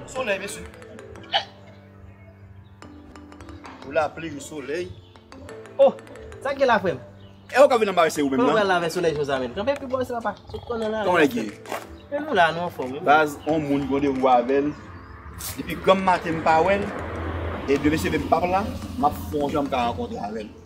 Solèy mesye. Ou la pli ou solèy. Oh, sa gen la frèm? E ou ka vin anbarese ou menm nan? Mwen la vè solèy josa menm. Kanpe pi bon sa pa. Sou kon nan la. Kon e gen. Men nou la nou an fòm. Baz on moun gonde ou avèl. Depi granm maten m pa wèl. E de mesye menm pap la. Map fon janm ka ankontre avèl.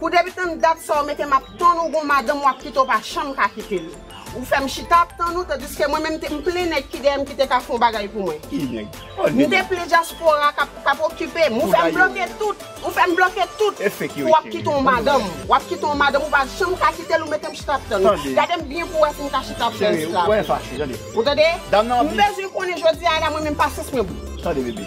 Pou depitan dat sa ou mete map tann ou gon madanm wap kite ou pa janm ka kitel ou fèm chita ap tann ou tandiske mwen menm m plen nèg ki dèyèm ki te ka fon bagay pou mwen m te plen dyaspora kap okipem ou fèm bloke tout ou fèm bloke tout pou wap kite yon madanm wap kite yon madanm ou pa janm ka kitel ou metem chita ap tann ou gadem byen pou wè sim ka chita ap tann esklav ou tande m bezwen konnen jodi a la mwen menm pasyans mwen bout.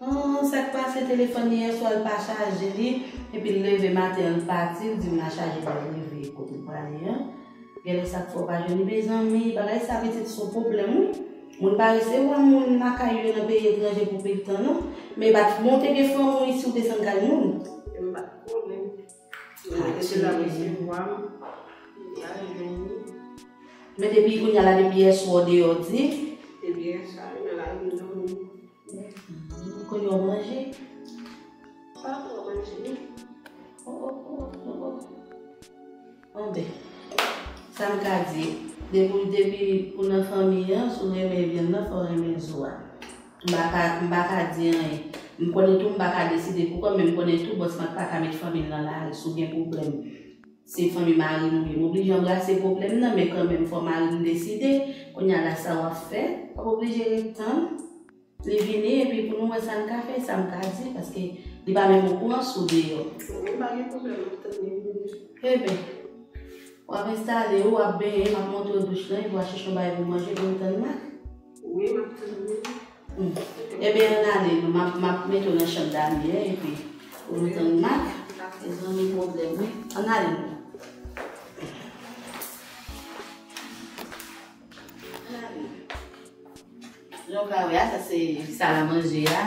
Humm sak pase telefòn li yèswa l pa chaje li epi l leve maten l pati l dim la chaje pral rive kote l prale an genlè sak fè w pa jwenn li mezanmi bagay sa pitit son pwoblèm wi moun pa resevwa moun lakay yo nan peyi etranje pou pil tan non men bat bon te gen fanm wi si w desann kay moun. Yo pa t konnen m e depi l ap resevwa m li pa jwenn li. Men depi kounya la depi yèswa w deyò di. Depi yèswa li nan lari m domi. Ou konn yon manje? Pa pran manje non. Oh oh oh oh oh. Bon ben, sa m ka di, depi depi ou nan fanmi an, si w renmen vyann nan, fò w renmen zo a. M pa ka, m pa ka di anyen. M konnen tou m pa ka deside pou kò m, men m konnen tou bòs lan pa ka met fanmi l nan laris ou byen pwoblèm. Se fanmi mari m wi. M oblije anbrase pwoblèm nan men kanmenm fò mari m deside. Kounye a la sa w ap fè? W ap oblije ret tann li vini epi pou nou wè sa n ka fè, sa m ka di paske li pa menm okouran si w deyò. Bon, pa gen pwoblèm, m ap tann li vini. Eben, w ap enstale ou, w ap benyen, m ap montre w douch lan epi w a chèche yon bagay pou w manje pou nou tann Mak? Wi, m ap tann li. Ebyen ann ale nou map map mete w nan chanm Damien epi ou vin tann Marc mezanmi pwoblèm wi ann ale nou. Jan w ka wè a sa se sal a manje a.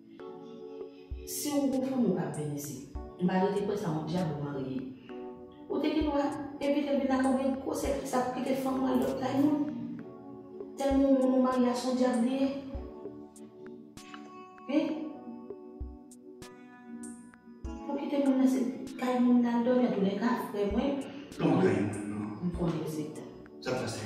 Si ou gon fanm ou kap vin isit. M pa rete kwè sa on dyab ou marye. Ou te gen dwa evitel vin lakay ou gen gwo sèkre sa pou kite fanm ou al dòmi kay moun. Tèlman ou moun ou marye a son dyab li ye. Hein. Ou kite moun nan se kay moun lal dòmi antoulèka frè mwen. Ou pa nan kay moun nan. M konnen ou se. Sa pase.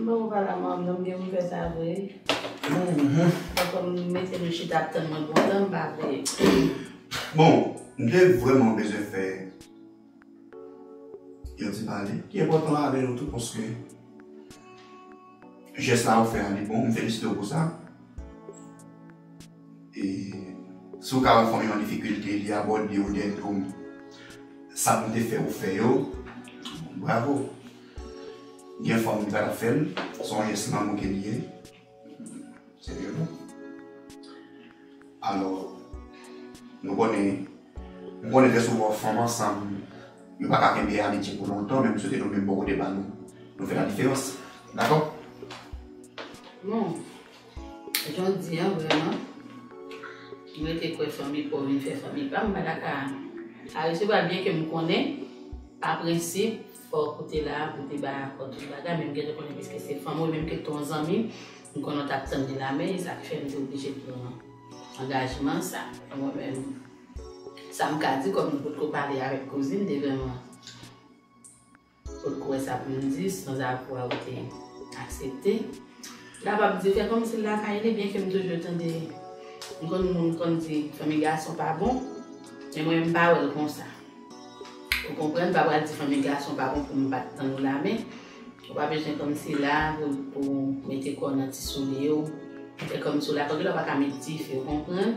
Mwen pa la mom nan mgen pou fè sa vre fòk m mete m chita ap tann mwen kontan m pa vle Bon m te vrèman bezwen fè yon ti pale ki enpòtan avè nou tout paske jès sa ou fè a li bon m felisite w pou sa. E si w ka wè fanmi w nan difikilte, li abòde ou dèyè do w. Sa nou te fè ou fè yo, bravo. Gen fanmi ki pa tap fè l, se yon jès lanmou ke li ye. Se vre vre. Alò, nou konnen, m konnen trè souvan fanm ansanm yo pa ka kenbe amitye pou lontan men m swete nou menm bò kote pa nou, nou fè la diferans. Dakò? Non. Jodi an vreman m rete kwè fanmi pa w vin fè fanmi pa m pa ta ka a resevwa byen ke m konnen pa prensip fò w koute la pou w te bay akò tout bagay men m gentan konnen piske se fanmi w menm ke te w zanmi m konnen w t ap tann li la men e sa k fè m te oblije pran angajman sa a mwen menm sa m ka di kòm m potko pale avèk kouzin devan Kot kouwè sa pou m di sans avwa ou te aksepte. Lap ap di fè kòmsi l lakay li byenke m toujou tande m konn moun k konn di fanmi gason pa bon men mwen m pa wè l konsa ou konprann m pa pral di fanmi gason pa bon pou m pat tann ou la men ou pa bezwen kòmsi la pou mete kò w nan ti soulye w fè kòmsi w lakay w gen dwa pa ka met dife ou konprann.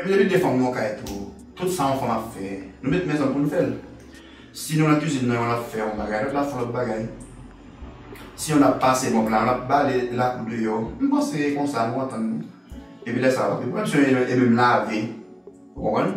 Ebyen li te fanm nan yon kay tou, tout sa yon fanm ap fè nou met mezanm pou nou fè l. Si nou nan kizin nan yon ap fè yon bagay lòt la ap fè yon lòt bagay. Si yon ap pase mòp la yon ap bale lakou deyò. M panse e konsa nou antann nou. Epi lè sa yo pa pi pran swen e menm lave. Ou konprann?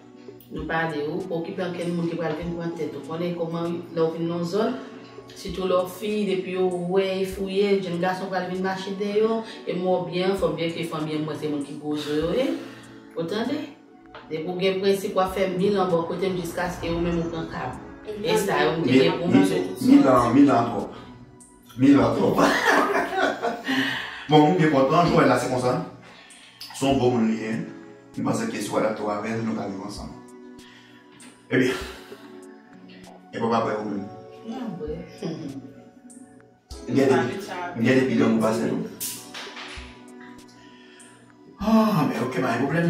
Nou pa di ou okipe ankenn moun ki pral vin pran tèt ou. Konnen kòman wi, lè ou vin nan yon zòn, sitou lè ou fi, depi yo wè e fouye, jenn gason pral vin mache deyò, e m wè w byen anfòm, byenke fanmi an mwen se moun ki gwo zo yo ye. Ou tande? Depi ou gen prensip w ap fè mil an bò kote m jiskaske ou menm ou pran kab. E sa yo m te gen pou m di. Mil an, mil an twòp. Mila trop Bon moun gen kont lan Joël la se konsa son gro moun li ye li panse ke si w adapte w avèl nou ka viv ansanm ebyen e pa vrè ou menm m gen depi lanmou pase nou ah ok pa gen pwoblèm.